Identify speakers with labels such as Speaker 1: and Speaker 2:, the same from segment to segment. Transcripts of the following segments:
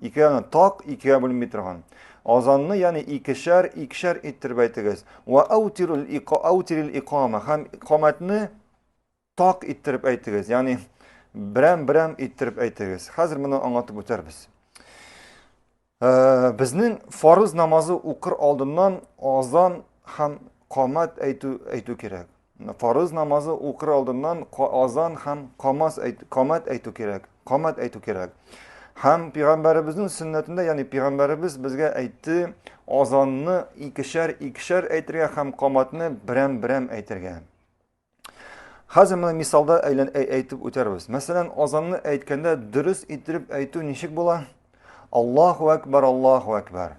Speaker 1: Икегә так икегә бүленми торган. Азанны, ягъни икешәр, икешәр иттереп әйтегез. Ва аутирул иқа аутирил иқама. Һәм иқамәтне так иттереп әйтегез. Ягъни берәм-берәм иттереп әйтегез. Хәзер моны аңлатып үтәрбез. Э, безнең фарыз намазы укыр алдыннан азан һәм камат әйтү әйтү кирәк. Фарыз намазы укыр алдыннан азан һәм камас әйт, камат әйтү кирәк. Камат әйтү кирәк. Һәм пигамбәребезнең сөннәтендә, ягъни пигамбәребез безгә әйтте, азанны икешәр икешәр әйтергә һәм каматны берәм-берәм әйтергә. Хәзер менә мисалда әйлән әйтеп үтәрбез. Мәсәлән, азанны әйткәндә дөрес иттереп әйтү ничек була? Аллаһу акбар, Аллаһу акбар.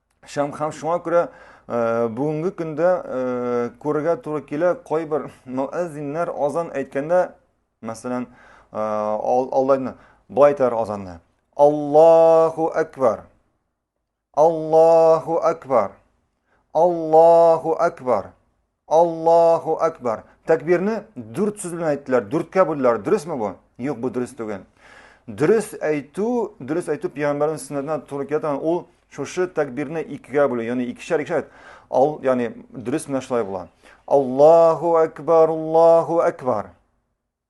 Speaker 1: Шам хам шуңа күрә э, бүгенге көндә э, күрергә туры килә кайбер мөәззиннәр азан әйткәндә, мәсәлән, э, алдайны былай әйтәр азанны. Аллаһу акбар. Аллаһу акбар. Аллаһу акбар. Аллаһу Әкбар. Тәкбирне дүрт сүз белән әйттеләр, дүрткә бүлделәр. Дөресме бу? Юк, бу дөрес түгел. Дөрес әйтү, дөрес әйтү пәйгамбәрнең сөннәтенә туры килә торган ул шушы тәкбирне икегә бүлү, ягъни икешәр икешәр. Ал, ягъни дөрес менә шулай була. Аллаһу Әкбар, Аллаһу Әкбар.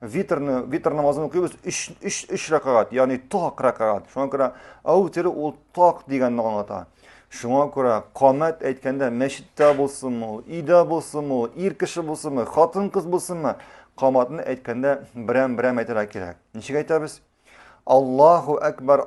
Speaker 1: витрны витр намазын укыйбыз өч өч өч рәкәгать ягъни так рәкәгать шуңа күрә әүтере ул так дигәнне аңлата шуңа күрә камәт әйткәндә мәчеттә булсынмы ул өйдә булсынмы ул ир кеше булсынмы хатын кыз булсынмы каматны әйткәндә берәм берәм әйтергә кирәк ничек әйтәбез аллаху әкбар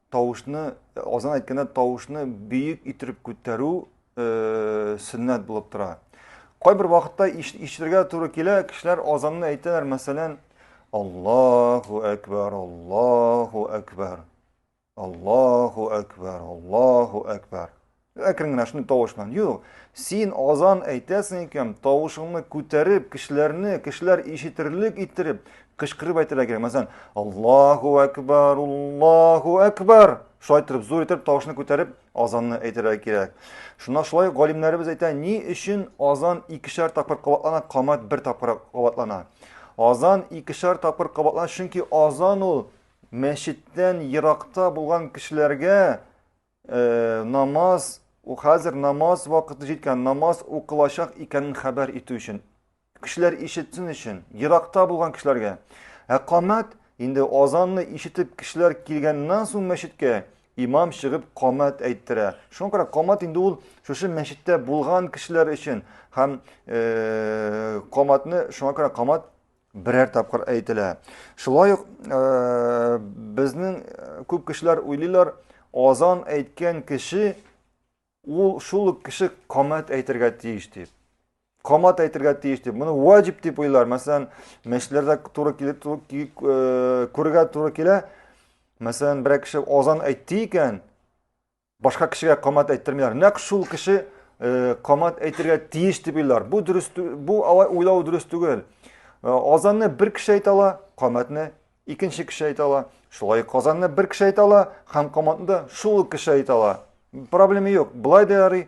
Speaker 1: тавышны азан әйткәндә тавышны бөек иттереп күтәрү э, сөннәт булып тора. Кайбер вакытта ишетергә туры килә, кешеләр азанны әйтәләр, мәсәлән, Аллаһу әкбар, Аллаһу әкбар. Аллаһу әкбар, Аллаһу әкбар. Әкрен генә шундый тавыш белән. Юк, син азан әйтәсең икән, тавышыңны күтәреп, кешеләрне, кешеләр ишетерлек иттереп, кычкырып әйтергә кирәк. Мәсәлән, Аллаһу акбар, Аллаһу акбар. Шулай итеп зур итеп тавышны күтәреп азанны әйтергә кирәк. Шуна шулай галимнәребез әйтә, ни өчен азан икешәр тапкыр кабатлана, камат бер тапкыр кабатлана. Азан икешәр тапкыр кабатлана, чөнки азан ул мәчеттән еракта булган кешеләргә Э, намаз хәзер намаз вакыты җиткән намаз укылачак икәнен хәбәр итү өчен кешеләр ишетсен өчен еракта булган кешеләргә ә камәт инде азанны ишетеп кешеләр килгәннән соң мәчеткә имам чыгып камәт әйттерә шуңа күрә камәт инде ул шушы мәчеттә булган кешеләр өчен һәм э, камәтне шуңа күрә камәт берәр тапкыр әйтелә. Шулай ук безнең күп кешеләр уйлыйлар, азан әйткән кеше ул шул ук кеше камат әйтергә тиеш дип. Камат әйтергә тиеш дип. Моны ваҗиб дип уйлар. Мәсәлән, мәчләрдә туры килеп күргә туры килә. Мәсәлән, берәр кеше азан әйтте икән, Башка кешегә камат әйттермиләр. Нәкъ шул кеше э, камат әйтергә тиеш дип уйлар. Бу дөрес бу алай уйлау дөрес түгел. Э, азанны бер кеше әйтә ала, каматны икенче кеше әйтә ала. Шулай казанны бер кеше әйтә ала, һәм каматны да шул кеше әйтә ала. Проблема юк. Былай да ярый,